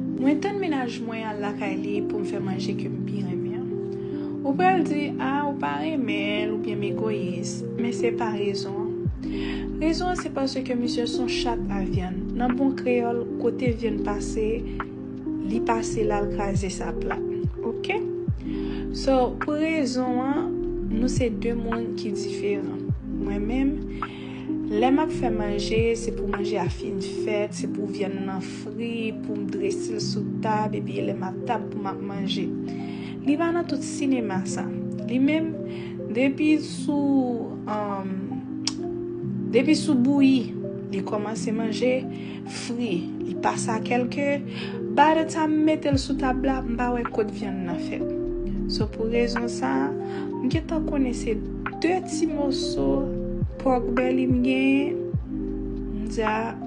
Mwen tann menaj mwen al lakay li poum fè manje kem pi renmen an. Ou pral di ah ou pa renmenl ou byen m egoyis, men se pa rezon an. Rezon an se paske misye son chat a vyann, nan bon kreyòl kote vyann pase li pase lal kraze sa plat ok. So pou rezon an nou se 2 moun ki diferan. Mwen menm lè map fè manje se pou manje a fin fèt, se pou vyann nan fri pou m drese l sou tab epi lè m ap tab pou m ap manje. Li pa nan tout sinema sa. Li menm, depi sou, um, depi sou bouyi, li kòmanse manje, fri, li pase a kèl ke, by the time m mete l sou tab la, m pa wè kot vyann nan fèt. So pou rezon sa, m gentan konnen se 2 ti moso pòk bèli m genyen, m di a,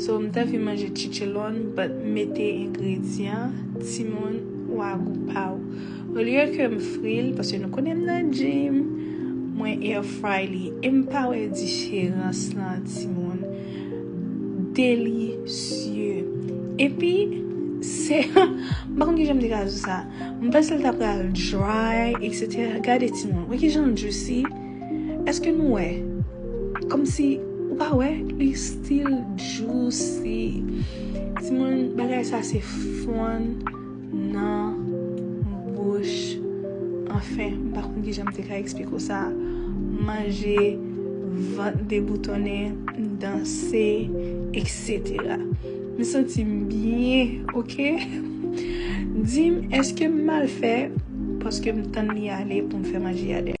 So m ta fin manje chichelon but m mete engredyan timoun ou a gou paw. Olye ke m fri l paske nou konnen m nan gym mwen air fry li e m pa wè diferans lan timoun. Delicieux. Epi se m pa konn kijan m te ka di w sa. M panse l ta pral dry etc. Gade timoun. Wè kijan l juicy. Eske nou wè Komsi ou pa wè li still juicy Timoun bagay sa se fon nan bouch Anfen m pa konn kijan m te ka eksplike w sa Manje vant deboutonnen m danse etc M santi m byen ok Di m eske m mal fè paske m tann li ale pou m fè manje a dèyè.